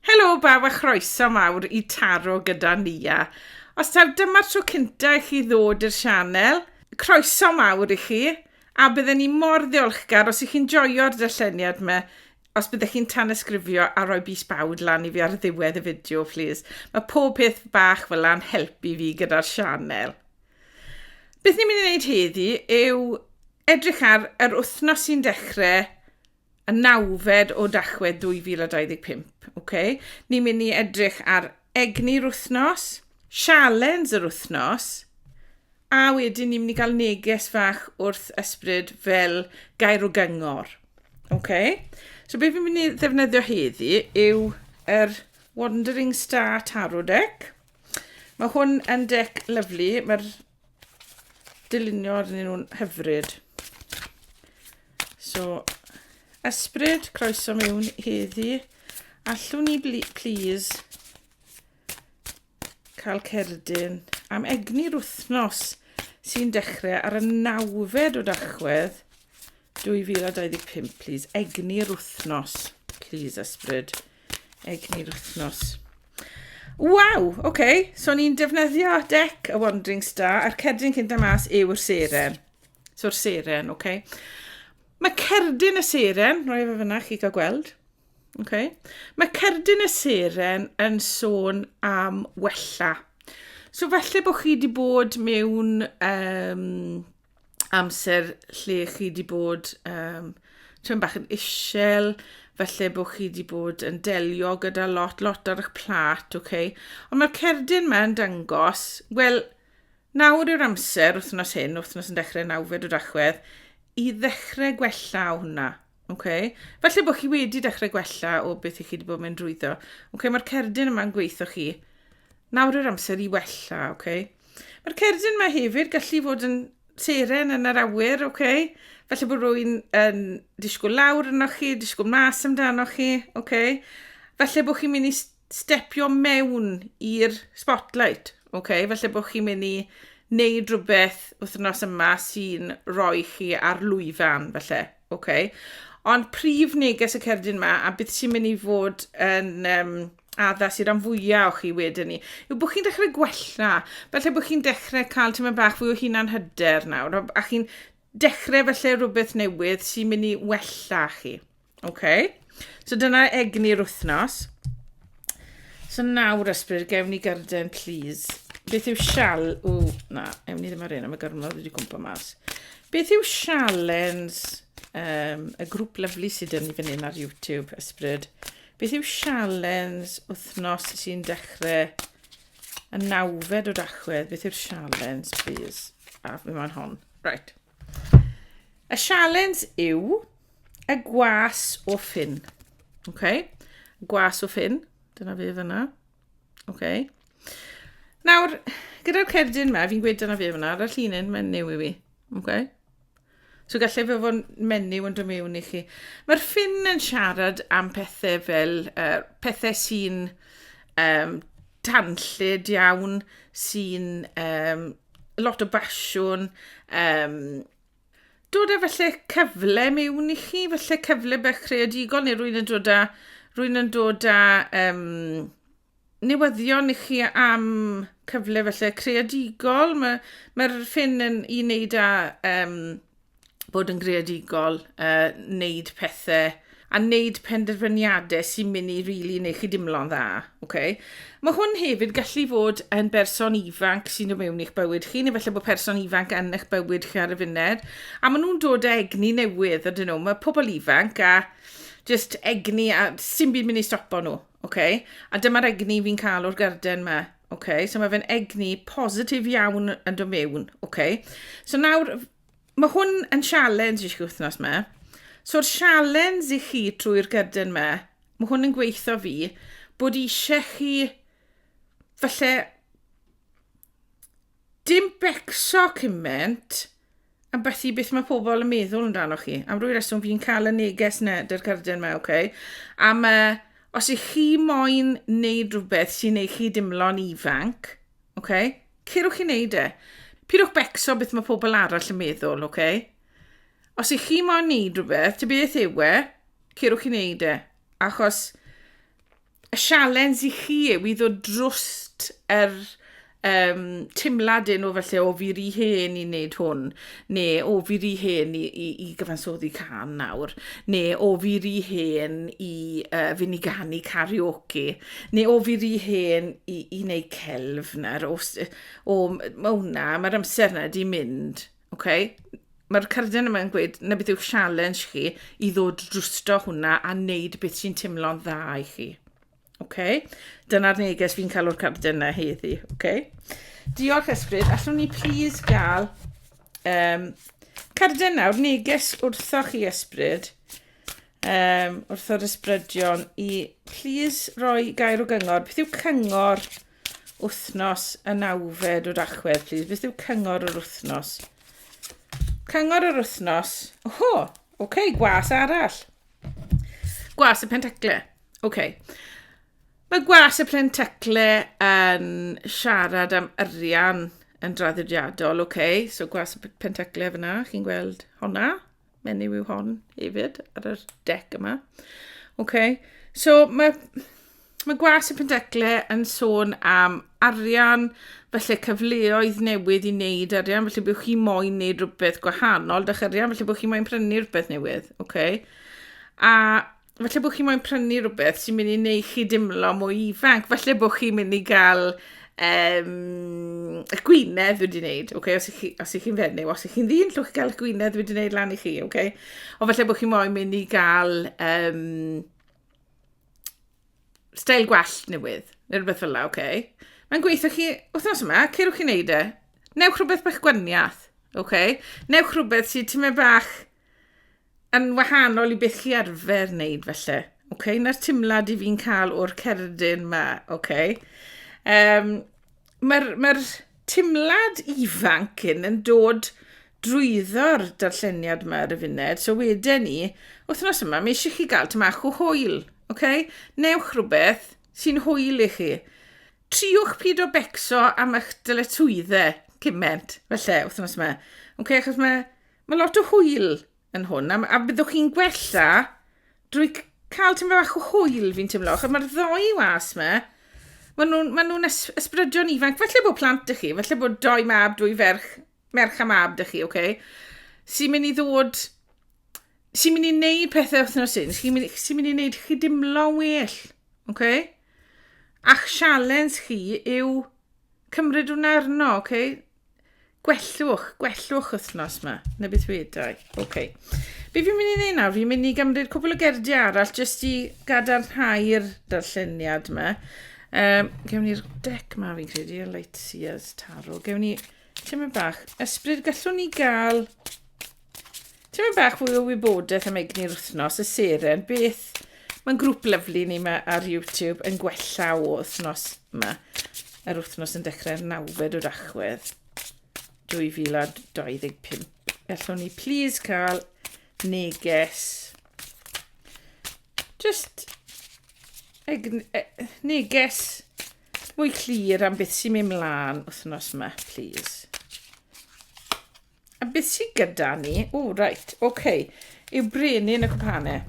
Helo bawb a chroeso mawr i Taro gyda Nia. Os taw dyma'r tro cynta i chi ddod i'r sianel, croeso mawr i chi, a bydden ni mor ddiolchgar os ych chi'n joio'r darlleniad yma, os byddech chi'n tanysgrifio a rhoi bys bawd lan i fi ar ddiwedd y fideo, plis. Mae pob peth bach fel yna'n helpu fi gyda'r sianel. Beth ni'n mynd i wneud heddi yw edrych ar yr wythnos sy'n dechrau y nawfed o Dachwedd 2025. Ok, ni'n mynd i edrych ar egni'r wythnos, sialens yr wythnos, a wedyn ni'n mynd i gael neges fach wrth ysbryd fel gair o gyngor. Ok, so beth fi'n mynd i ddefnyddio heddi yw yr Wandering Star Tarot Deck. Mae hwn yn dec lyflu, mae'r dylunio arnyn nhw'n hyfryd. So, ysbryd, croeso mewn heddi. Allwn ni, please, cael cerdyn am egni'r wythnos sy'n dechrau ar y nawfed o dachwedd 2025, please. Egni'r wythnos, please, ysbryd. Please. Egni'r wythnos. Waw, oce. Okay. So ni'n defnyddio dec y Wandering Star a'r cerdyn cyn da mas yw'r seren. So'r seren, oce. Okay. Mae cerdyn y seren, roi fe fyna chi gael gweld. Okay. Mae cerdyn y seren yn sôn am wella. So falle bod chi wedi bod mewn um, amser lle chi wedi bod um, tyn bach yn isel, felly bod chi wedi bod yn delio gyda lot, lot ar eich plat, oce? Okay? Ond mae'r cerdyn yma yn dangos, wel, nawr yw'r amser, wythnos hyn, wythnos yn dechrau nawfed o dachwedd, i ddechrau gwella o hwnna. Oce. Falle bod chi wedi dechrau gwella o beth i chi wedi bod yn mynd drwyddo. Oce, mae'r cerdyn yma'n gweithio chi. Nawr yw'r amser i wella, oce. Mae'r cerdyn yma hefyd gallu fod yn seren yn yr awyr, oce. Falle bod rwy'n yn disgwyl lawr yno chi, disgwyl mas amdano chi, oce. Falle bod chi'n mynd i stepio mewn i'r spotlight, oce. Falle bod chi'n mynd i wneud rhywbeth wythnos yma sy'n rhoi chi ar lwyfan, falle. Ok. Ond prif neges y cerdyn yma, a beth sy'n mynd i fod yn um, addas i ran fwyaf o chi wedyn ni, yw bod chi'n dechrau gwella. Felly bod chi'n dechrau cael tyma bach fwy o hunan hyder nawr, a chi'n dechrau felly rhywbeth newydd sy'n mynd i wella chi. Okay. So dyna egni'r wythnos. So nawr ysbryd, gewn ni garden, please. Beth yw sial... O, na, ewn ni ddim ar un am y gormod wedi gwmpa mas. Beth yw sialens um, y grŵp lyflu sydd yn ni fan hyn ar YouTube, ysbryd? Beth yw sialens wythnos sy'n dechrau y nawfed o dachwedd? Beth yw'r sialens, please? A, fi moyn hon. Right. Y sialens yw y gwas o ffyn. Okay? Gwas o ffyn. Dyna fe fyna. Okay? Nawr, gyda'r cerdyn yma, fi'n gweud dyna fe fyna, ar y llinyn, mae'n new i fi. Okay? So gallai fe fod menyw yn dod mewn i chi. Mae'r ffin yn siarad am pethau fel uh, pethau sy'n um, tanllyd iawn, sy'n um, lot o basiwn, um, dod â felly cyfle mewn i chi, felly cyfle bech creadigol, neu rwy'n yn dod â, rwy'n yn dod â um, newyddion i chi am cyfle felly creadigol. Mae'r ma, ffin yn i wneud â um, bod yn greadigol, uh, wneud pethau a wneud penderfyniadau sy'n mynd i rili really neu chi dimlo'n dda. Okay? Mae hwn hefyd gallu fod yn berson ifanc sy'n dod mewn i'ch bywyd chi, neu felly bod person ifanc yn eich bywyd chi ar y funud. A maen nhw'n dod â egni newydd, ydyn nhw. Mae pobl ifanc a just egni a sy'n byd mynd i stopo nhw. Ok, a dyma'r egni fi'n cael o'r garden ma. Ok, so mae fe'n egni positif iawn yn dod mewn. Ok, so nawr, mae hwn yn sialens i chi wythnos ma. So'r sialens i chi trwy'r garden ma, mae hwn yn gweithio fi, bod eisiau chi, falle, dim becso cymaint, A beth i beth mae pobl yn meddwl yn dan o chi. Am rwy reswm fi'n cael y neges na, dy'r cerdyn mae, oce. Okay. A mae, os ych chi moyn wneud rhywbeth sy'n ei chi dimlo'n ifanc, oce, okay, cerwch chi wneud e. Pidwch becso beth mae pobl arall yn meddwl, oce. Okay. Os ych chi moyn wneud rhywbeth, ty beth yw e, cerwch chi wneud e. Achos y sialens i chi yw i ddod drwst yr um, timlad yn o felly o fi ry hen i wneud hwn, neu o fi ry hen i, i, i gyfansoddi can nawr, neu o fi ry hen i uh, fynd i ganu karaoke, neu o fi ry hen i, i wneud celf nawr, o, o, mae hwnna, mae'r amser yna di mynd. Ok, mae'r cerdyn yma'n gweud na beth yw'ch challenge chi i ddod drwsto hwnna a wneud beth sy'n teimlo'n dda i chi. Ok, dyna'r neges fi'n cael o'r cerdyn yna heddi. Ok, diolch ysbryd, allwn ni please gael um, cerdyn nawr, neges wrtho chi ysbryd, um, wrtho'r ysbrydion i please roi gair o gyngor. Beth yw cyngor Wythnos y nawfed o Dachwedd, please. Beth yw cyngor yr wythnos? Cyngor yr wythnos. O, oh, oce, okay, gwas arall. Gwas y pentacle. Oce. Okay. Mae gwas y pentacle yn siarad am arian yn draddodiadol, oce. Okay. So gwas y pentacle fyna, chi'n gweld honna? menyw yw hon hefyd, ar yr dec yma. Okay. So mae, mae gwas y pendecle yn sôn am arian, felly cyfleoedd newydd i wneud arian, felly byddwch chi moyn wneud rhywbeth gwahanol, dych arian, felly byddwch chi moyn prynu rhywbeth newydd. Okay. A falle bod chi moyn prynu rhywbeth sy'n mynd i wneud chi dimlo mwy ifanc. Falle bod chi'n mynd i gael um, y gwynedd wedi wneud, okay? os ych chi, chi'n fenyw, os ych chi'n ddyn, llwch gael y gwynedd wedi wneud lan i chi. Okay? O falle bod chi'n moyn mynd i gael um, stael gwell newydd, neu rhywbeth fel la, okay? Mae'n gweithio chi, wythnos yma, ceirwch chi'n neud e. Newch rhywbeth bach gwaniath, okay? Newch rhywbeth sy'n tymau bach Yn wahanol i beth chi arfer wneud felly. Ok, na'r timlad i fi'n cael o'r cerdyn ma, ok. Um, Mae'r ma timlad ifanc yn yn dod drwyddo'r darlleniad yma ar y funed, so wedyn ni, wythnos yma, mae eisiau chi gael tymach o hwyl, ok? Newch rhywbeth sy'n hwyl i chi. Triwch pyd o becso am eich dyletswyddau cyment, felly, wythnos yma. Ok, achos mae Mae lot o hwyl yn hwn, a, a byddwch chi'n gwella drwy cael tymor bach o hwyl, fi'n teimlo, achos mae'r ddoi was yma, maen nhw'n ma nhw ysbrydion ifanc, falle bod plant ych chi, falle bod doi mab, dwy ferch, merch a mab ych chi, oce? Okay? Sy'n mynd i ddod, sy'n mynd i wneud pethau wythnos hyn, sy'n mynd, sy mynd i wneud chi dimlo'n well, oce? Okay? A'ch sialens chi yw cymryd hwnna arno, oce? Okay? Gwellwch, gwellwch wythnos yma, neu beth wedau. Oce. Okay. Be fi'n mynd i wneud nawr? Fi'n mynd i gymryd cwbl o gerdiau arall jyst i gadarnhau'r darlleniad yma. Um, gewn ni'r dec ma fi'n credu, y Light Sears Taro. Gewn ni tymor bach. Ysbryd, gallwn ni gael Tipyn bach fwy o wybodaeth am egni'r wythnos, y seren, beth... Mae'n grŵp lyflu ni yma ar YouTube yn gwella o wythnos yma. Yr wythnos yn dechrau'r nawfed o dachwedd 2025. Gallwn ni please cael neges. Just e, neges mwy clir am beth sy'n mynd mlaen wythnos yma, please. A beth sydd gyda ni? O, reit, oce. Okay. Yw brenin y cwpanau.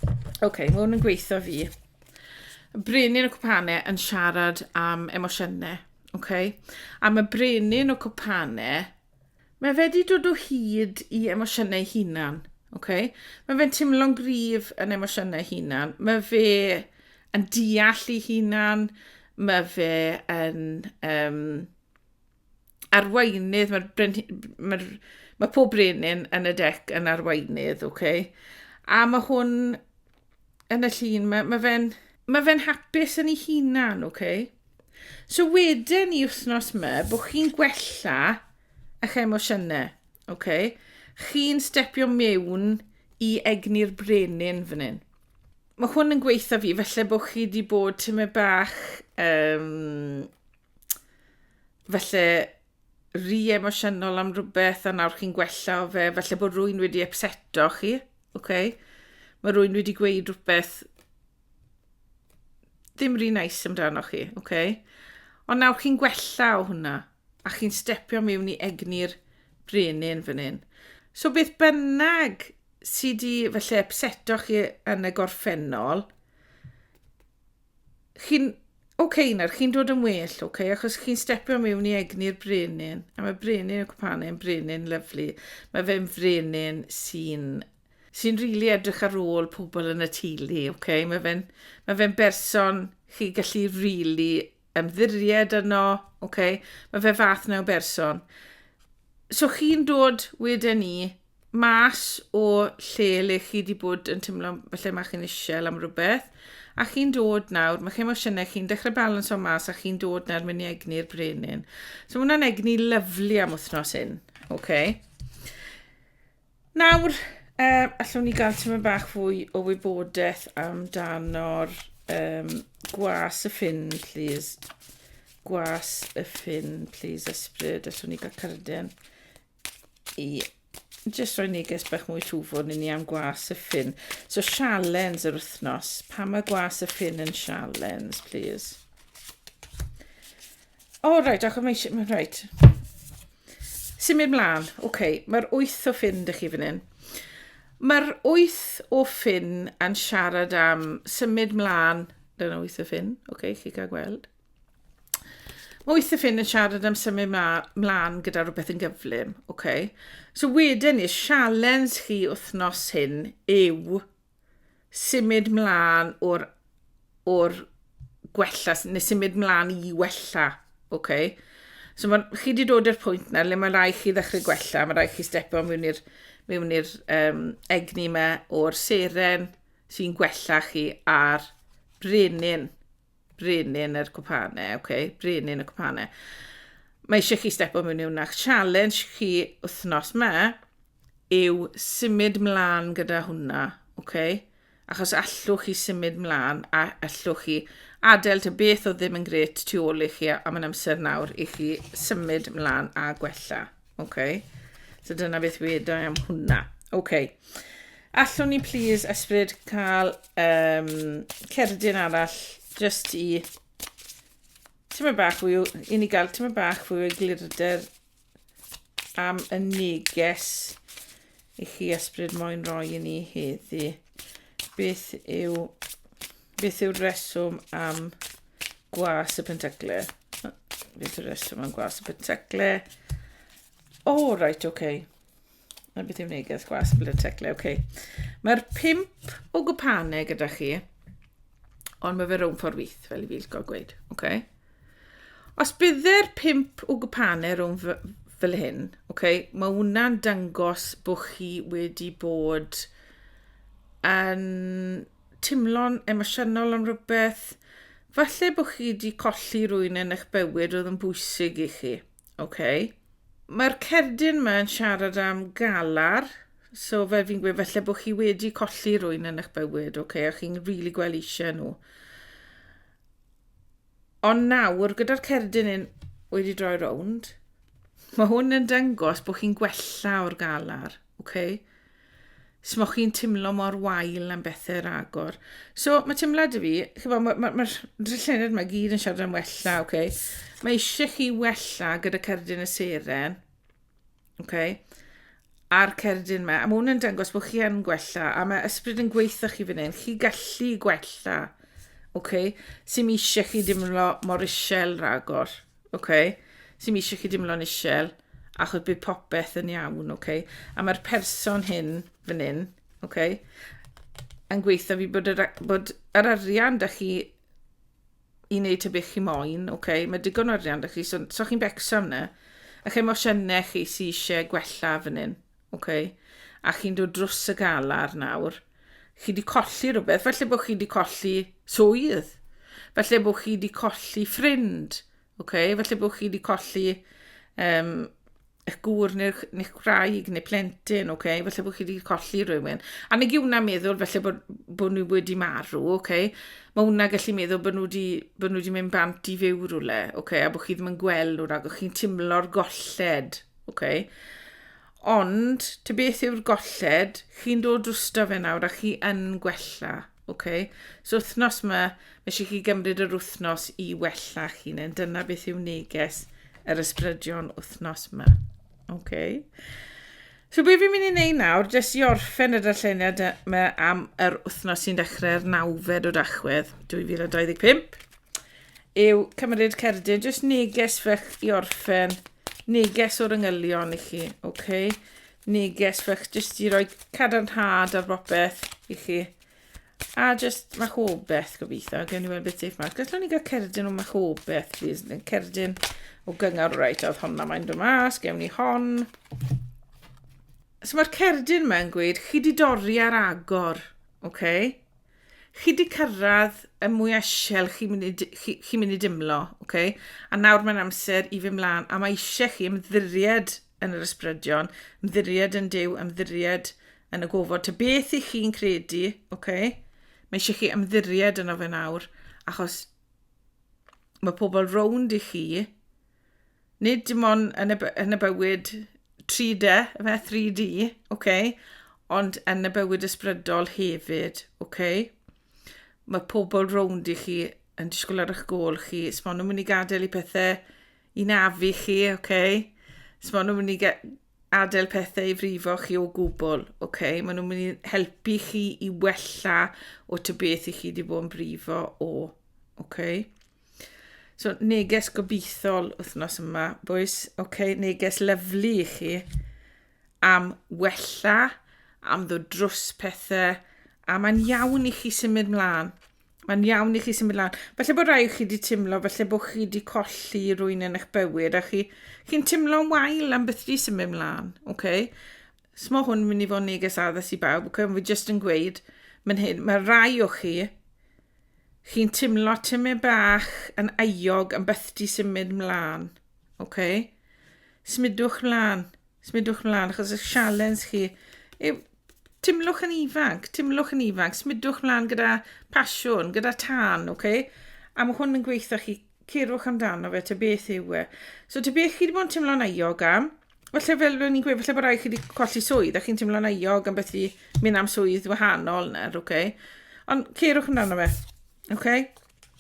Oce, okay, mae hwn yn gweithio fi. Brenin y cwpanau yn siarad am emosiynau. Oce. Okay? A mae brenin y cwpanau, mae fe wedi dod o hyd i emosiynau hunan. Oce. Okay? Mae fe'n teimlo'n gryf yn emosiynau hunan. Mae fe yn deall ei hunan. Mae fe yn... Um, arweinydd, mae'r brenhi- mae'r mae pob brenin yn y dec yn arweinydd, oce? Okay? A mae hwn yn y llun, mae, mae fe'n mae fe'n hapus yn ei hunan, oce? Okay? So wedyn i wythnos yma, bod chi'n gwella eich emosiynau, oce? Okay? Chi'n stepio mewn i egni'r brenin fan hyn. Mae hwn yn gweithio fi, felly bod chi wedi bod tyma bach um, falle rhy emosiynol am rhywbeth a nawr chi'n gwella o fe, falle bod rwy'n wedi upseto chi, oce? Okay? Mae rwy'n wedi gweud rhywbeth ddim rhy nais amdano chi, oce? Okay? Ond nawr chi'n gwella o hwnna a chi'n stepio mewn i egni'r brenin fan hyn. So beth bynnag sydd wedi falle upseto chi yn y gorffennol, chi'n OK nawr, chi'n dod yn well, OK, achos chi'n stepio mewn i egni'r brenin, a mae brenin y cwpan yn brenin lyflu. Mae fe'n frenin sy'n sy'n rili really edrych ar ôl pobl yn y teulu, OK? Mae fe'n ma fe berson chi gallu rili really ymddiried yno, OK? Mae fe fath na o berson. So chi'n dod wedyn ni mas o lle le chi wedi bod yn teimlo falle mae chi'n eisiau am rhywbeth, a chi'n dod nawr, mae'ch emosiynau chi'n dechrau balans o mas a chi'n dod nawr mynd i egni'r brenin. So mae hwnna'n egni lyflu am wythnos hyn. Okay. Nawr, uh, allwn ni gael tyma bach fwy o wybodaeth amdano'r um, gwas y ffin, please. Gwas y ffin, please, ysbryd. Allwn ni gael cyrden i jyst rhoi neges bach mwy twfwn i ni am gwas y ffin. So sialens yr wythnos. Pa mae gwas y ffin yn sialens, please? O, oh, rhaid, achos mae eisiau... Rhaid. Symud mlaen. Oce, okay. mae'r wyth o ffin dych chi fan hyn. Mae'r wyth o ffin yn siarad am symud mlaen. Dyna wyth o ffin. Oce, okay, chi gael gweld. Mae weithiau ffyn yn siarad am symud mlaen gyda rhywbeth yn gyflym, oce? Okay? So wedyn ni, sialens chi wythnos hyn yw symud mlaen o'r, or gwella, neu symud mlaen i wella, oce? Okay? So ma, chi wedi dod i'r pwynt na le mae rai chi ddechrau gwella, mae rai chi stepo mewn i'r mewn i'r um, egni yma o'r seren sy'n gwella chi a'r brenin. Brenin yr cwpane, oce, okay. brenin y cwpane. Mae eisiau chi stepo mewn i hwnna. Challenge chi wythnos me yw symud mlaen gyda hwnna, oce? Okay? Achos allwch chi symud mlaen a allwch chi adael ty beth o ddim yn gret tu ôl i chi am yn amser nawr i chi symud mlaen a gwella, oce? Okay? So dyna beth wedi am hwnna. Oce. Okay. Allwn ni please ysbryd cael um, cerdyn arall just i tyma bach fwy o, i ni gael tyma bach fwy o glirder am y neges i chi ysbryd moyn roi i ni heddi. Beth yw, beth yw'r reswm am gwas y pentacle? Beth yw'r reswm am gwas y pentacle? O, oh, right, oce. Okay. Na beth yw'r neges? Gwas yn blwyddyn teclau, oce. Okay. Mae'r pimp o gwpanau gyda chi, ond mae fe rhwng ffordd wyth, fel i fi gael gweud. Okay. Os bydde'r pimp o gwpanau rhwng fel hyn, okay, mae hwnna'n dangos bod chi wedi bod yn timlo'n emosiynol am rhywbeth. Falle bod chi wedi colli rwy'n yn eich bywyd oedd yn bwysig i chi. Ok. Mae'r cerdyn yma yn siarad am galar, so fel fi'n gweud, felly bod chi wedi colli rwy'n yn eich bywyd, ok, a chi'n rili really gweld eisiau nhw. Ond nawr, gyda'r cerdyn yn wedi droi rownd, mae hwn yn dangos bod chi'n gwella o'r galar. Oce? S'moch chi'n timlo mor wael am bethe ragor. So, mae timlad i fi, chi'n bod, mae'r ma, ma, ma llened mae gyd yn siarad am wella, oce? Okay? Mae eisiau chi wella gyda cerdyn y seren, oce? Okay? A'r cerdyn yma, a mae hwnna'n dangos bod chi yn gwella, a mae ysbryd yn gweithio chi fan hyn, chi gallu gwella, oce? Okay? Sy'n eisiau chi dimlo mor isel ragor. Ok, sy'm eisiau chi dimlo'n isel, achos bydd popeth yn iawn, ok? A mae'r person hyn fan hyn, ok? yn gweithio fi bod yr, bod yr arian da chi i wneud ta beth chi moyn, ok? mae digon o arian da chi, so, so chi'n becso am na. A chemosiynau chi sy'n eisiau gwella fan hyn, Oce. A chi'n dod drws y galar nawr. Chi wedi colli rhywbeth. Felly bod chi wedi colli swydd. Felly bod chi wedi colli ffrind. Oce. Felly bod chi wedi colli um, eich gŵr neu'ch neu gwraig neu plentyn, oce, okay? felly bod chi wedi colli rhywun. A nag yw hwnna'n meddwl felly bod, bod nhw wedi marw, oce? Okay? Mae hwnna gallu meddwl bod nhw wedi, bod nhw wedi mynd bant i fyw rhywle, oce, okay? a bod chi ddim yn gweld nhw rhag o'ch chi'n timlo'r golled, OK. Ond, ti beth yw'r golled? Chi'n dod drwsta fe nawr a chi yn gwella. OK. So wythnos yma, mae eisiau chi gymryd yr wythnos i wella chi. Neu dyna beth yw neges yr ysbrydion wythnos yma. OK. So be fi'n mynd i wneud nawr, jyst i orffen y darlleniad yma am yr wythnos sy'n dechrau'r nawfed o dachwedd 2025. yw cymryd cerdyn, jyst neges fech i orffen, neges o'r yngylion i chi, oce? Okay? Neges fech jyst i roi cadarnhad ar bopeth i chi. A jyst machobeth gobeithio, gen i weld beth sy'n mas. Gallwn ni gael cerdyn o machobeth, please. Cerdyn o gyngor, reit, oedd honna mae'n dod mas, gewn ni hon. So mae'r cerdyn mae'n gweud, chi di dorri ar agor, oce? Okay? chi 'di cyrraedd y mwya isel chi'n mynd i chi, chi mynd i dimlo, okay? a nawr mae'n amser i fy mlaen, a mae eisiau chi ymddiried yn yr ysbrydion, ymddiried yn Dyw, ymddiried yn y gofod, ta beth i chi'n credu, okay? mae eisiau chi ymddiried yn fe nawr, achos mae pobl rownd i chi Nid dim ond yn y, yn y bywyd 3D, fe 3D, okay? ond yn y bywyd ysbrydol hefyd. Okay? Mae pobl rownd i chi yn disgwyl ar eich gol chi. Os maen nhw'n mynd i gadael i pethau i nafu chi, okay? Os maen nhw'n mynd i adael pethau i frifo chi o gwbl, okay? maen nhw'n mynd i helpu chi i wella o ty beth i chi wedi bod yn brifo o. Okay? So, neges gobeithol wythnos yma, bwys. Oce, okay, neges lyflu i chi am wella, am ddod drws pethau, a mae'n iawn i chi symud mlaen. Mae'n iawn i chi symud mlaen. Felly bod rai chi wedi teimlo, felly bod chi wedi colli rwy'n yn eich bywyd, a chi'n chi teimlo'n wael am beth wedi symud mlaen, oce? Okay? Os mae hwn yn mynd i fod yn neges addas i bawb, ac fi jyst yn gweud, mae'n hyn, mae rai o chi, chi'n timlo tymau bach yn aiog yn byth di symud mlaen. Okay? Smudwch mlaen, smudwch mlaen, achos y sialens chi yw timlwch yn ifanc, timlwch yn ifanc, smudwch mlaen gyda pasiwn, gyda tân, okay? A mae hwn yn gweithio chi cerwch amdano fe, te beth yw e. So te beth chi wedi bod yn teimlo'n aiog am, falle fel rwy'n ni'n gweud, falle bod rai chi wedi colli swydd a chi'n teimlo'n aiog am beth i mynd am swydd wahanol nawr, oce? Okay? Ond cerwch amdano fe, oce? Okay?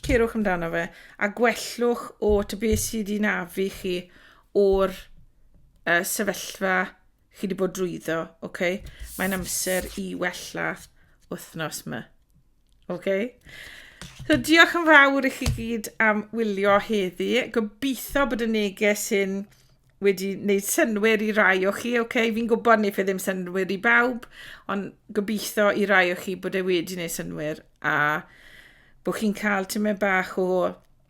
Cerwch amdano fe a gwellwch o te beth sydd wedi nafu chi o'r uh, sefyllfa chi wedi bod drwyddo, oce? Okay? Mae'n amser i wella wythnos yma. Oce. So diolch yn fawr i chi gyd am wylio heddi. Gobeithio bod y neges hyn wedi wneud synwyr i rai o chi. Oce, fi'n gwybod wneud fe ddim synwyr i bawb, ond gobeithio i rai o chi bod e wedi wneud synwyr a bod chi'n cael tymed bach o